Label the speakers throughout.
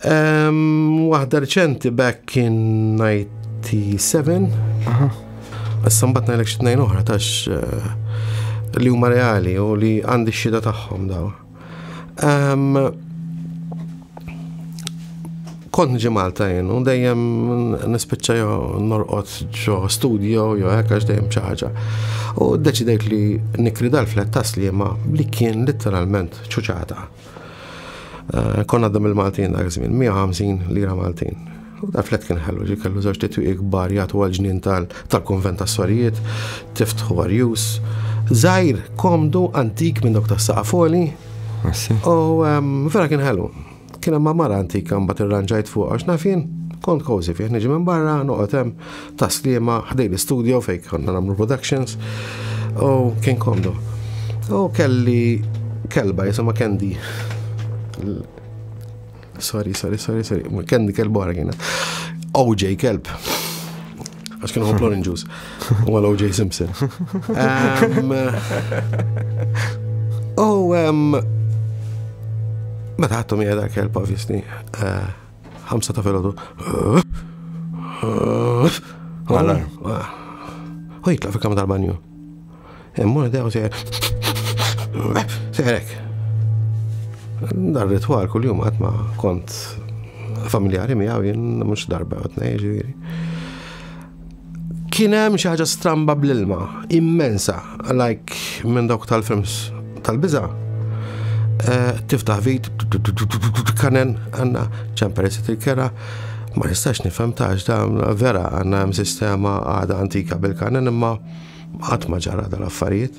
Speaker 1: Waħda reċenti back in 97. Aha. Issa mbagħad ngħidlek xi tnejn oħra tax eh, li huma reali u li għandi x-xhieda tagħhom daw. Kont nġi Malta jien u dejjem nispiċċa jo norqod ġo studio jo hekk għax dejjem xi ħaġa. U ddeċidejt li nikri dal-flet ta' sliema li kien letteralment ċuċata. Eh, konna għaddam il-Maltin dak żmien, 150 lira Maltin. U da flet kien ħellu ġi kellu żewġ titwiq kbar jagħtu għal ġnien tal-konvent tas-sorijiet, tiftħu għarjus. Zajr, komdu, antik minn dok ta' saqafoli. U vera kien ħellu. Kien hemm mara antika mbagħad irranġajt fuq għax nafin kont kozi fih niġi minn barra noqgħod hemm ta' Sliema ħdej l-istudio fejn konna nagħmlu productions u kien komdu. U kelli kelba jisimha Candy. Sorry, sorry, sorry, sorry. Candy kelba wara kienet. OJ kelb. Għax kienu ħoblu l-inġus. U għal OJ Simpson. U meta għattu mi għedha kelb, obviously. Eh, Ħamsa ta' filgħodu. Għalar. U jitlaq fi kamra tal-banju. Immur dew se. Seħrek. Dar ritwal kull jum għatma kont familjari miegħu jien mhux darba għatna jiġifieri. Kien hemm xi ħaġa stramba bl-ilma, immensa, like minn dawk tal-films tal-biża. Eh, tiftaħ vit, kanen, għanna ċemperi sit il-kera, ma nistax nifhem tax da vera għanna hemm sistema għada antika bil-kanen imma qatt ma ġara dal-affarijiet.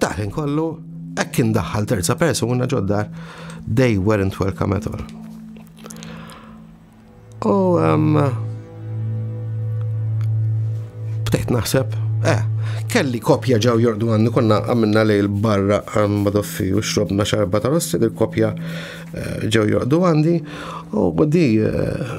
Speaker 1: Taħin kollu, hekk kien daħħal terza persuna ġoddar, they weren't welcome at all. U um, bdejt naħseb, eh, kelli kopja ġaw jordu għandu konna għamilna li l-barra għan madoffi u xrobna xarba ta' rossi, il-kopja eh, ġaw jordu għandi u di eh,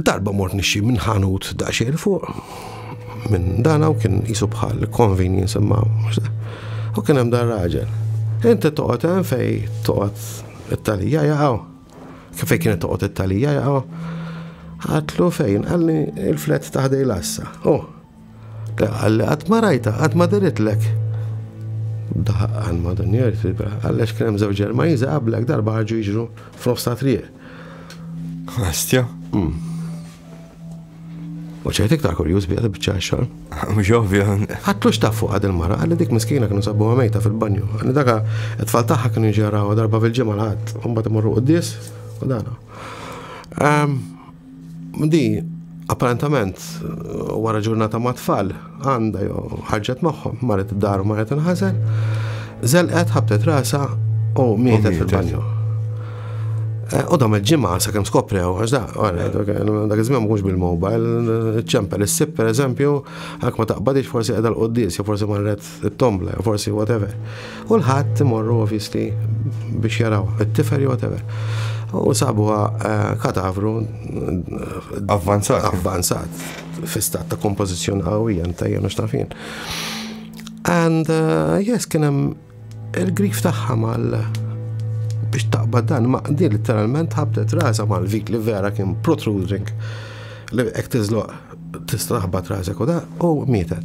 Speaker 1: Darba mort nixxi minn ħanut daqsxejn fuq, minn dana u kien jisu bħal convenience imma u kien hemm dar raġel. Inti toqgħod hemm fej toqgħod it-talija jaqgħu. Kif fej kienet toqgħod it-talija jaqgħu. Għatlu fejn qalli il-flet taħdej lassa. Oh, Qalli qatt ma rajtha, qatt ma diritlek. Daħaq għal madunjer fibra, għallex kien hemm żewġ Ġermaniżi qablek darba ħarġu jiġru f'nofs ta' triq.
Speaker 2: Astja? Hmm.
Speaker 1: U ċert iktar kurjuż bija tibċa xogħol. Mhux ovvja.
Speaker 2: Ħaddux taf fuq
Speaker 1: għad il-mara, għalli dik miskina kienu sabu għamejta fil-banju. Għalli daka it-tfal tagħha kienu ġaraw darba fil-ġimgħa l-ħadd, u mbagħad imorru qudies u dana. Ehm, Di, apparentament, wara ġurnata ma' tfal, għanda jo ħarġet magħhom, marret id-dar u marret inħażen, zelqet ħabtet rasa u mietet fil-banju. Eh, u dam il-ġimgħa sa kemm skoprew, għax da, dak iż-żmien mhux bil-mobile, ċempel issib pereżempju, għak ma taqbadix forsi qiegħda l-qoddis, forsi marret it-tombla, forsi whatever. U l-ħadd imorru ovvisti biex jaraw it-tifer whatever. U sabuha eh, kadavru avvanzat. Avvanzat. Fistat ta' kompożizzjoni qawwija ta' jenu xtafin. And uh, yes, kien hemm il-grif tagħha mal biex taqbad dan ma' di literalment ħabtet rasa mal vik li vera kien protruding li hekk tiżloq tista' taħbad rasek u da u mietet.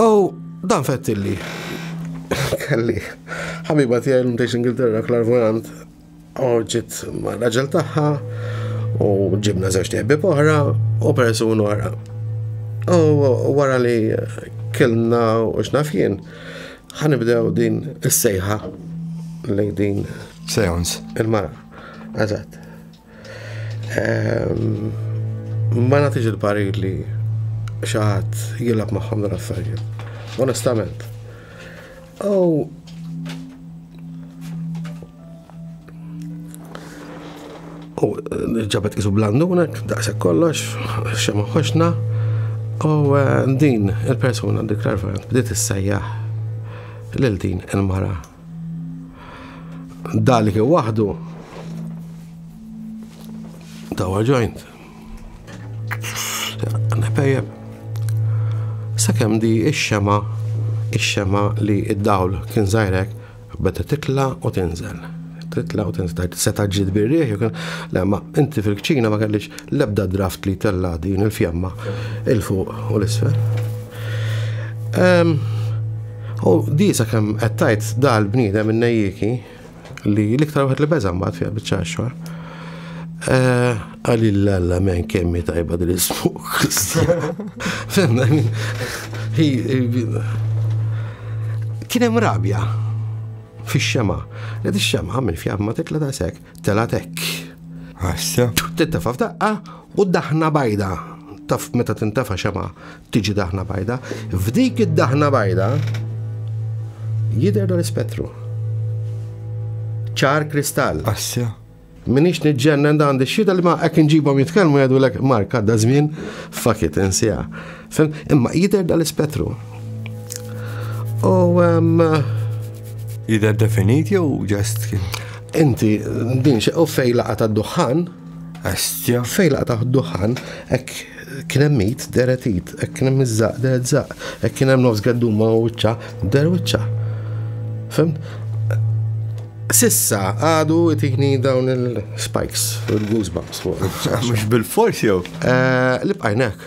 Speaker 2: U
Speaker 1: dan fettilli. Kelli, ħabiba tiegħi l mtejx Ingilterra klarvojant, orġit ma' raġel tagħha u ġibna żewġ tebbi oħra u persun oħra. U wara li kellna u xnafjen, ħanibdew din is-sejħa lejn din. Seance.
Speaker 2: Il-mara.
Speaker 1: Eżatt. Ma nagħtix il-parir li xi ħadd jilgħab magħhom dan affarijiet. Onestament. Oh. U ġabet isu blandunek, daqshekk kollox, xemma ħoxna. U eh, din il-persuna dik l-arfant bdiet issejjaħ lil din il-mara Dali kien waħdu tawa ġojnt. Nepejjeb. Sakemm di ix-xema ix-xema li id-dawl kien zajrek beda titla u tinżel. Titla u tinżel. Seta ġid birriħ, le ma inti fil-kċina ma kellix lebda draft li tella din il-fjamma il-fuq u l-isfel. Ehm, U di sakemm qed tgħid dal bniedem in-nejjiki li l-iktar wieħed li beża' mbagħad fiha biċċa xogħol. Eh, għalli l-alla men kemmi tajba dil ismuk Fenna, kienem rabja fi xema. Li di xema minn fjab ma tikla ta' sek, tela tek. Għassa.
Speaker 2: Tintafa f'daqqa
Speaker 1: u daħna bajda. Taf meta tintafa xema, Tiġi daħna bajda. F'dik id-daħna bajda jidher dan l-ispettru. Ċar kristall. Assja.
Speaker 2: Minix
Speaker 1: nġennen dan di xita li ma ek nġibom jitkelmu jadu l-ek marka da zmin fakit insija. Imma jider dal spettru U
Speaker 2: jider definit jew ġest? Inti
Speaker 1: din xe u fej laqa ta' duħan Astja.
Speaker 2: Fejn laqa' taħt
Speaker 1: duħħan, hekk kien hemm id deret id, hekk kien hemm iż-żaq deret żaq, hekk kien hemm nofs gadduma u wiċċa der wiċċa. Fem? Sissa għadu tini dawn il-spikes,
Speaker 2: il-goosebumps. Mux bil-fors jew?
Speaker 1: Eh,
Speaker 2: li bqajnek.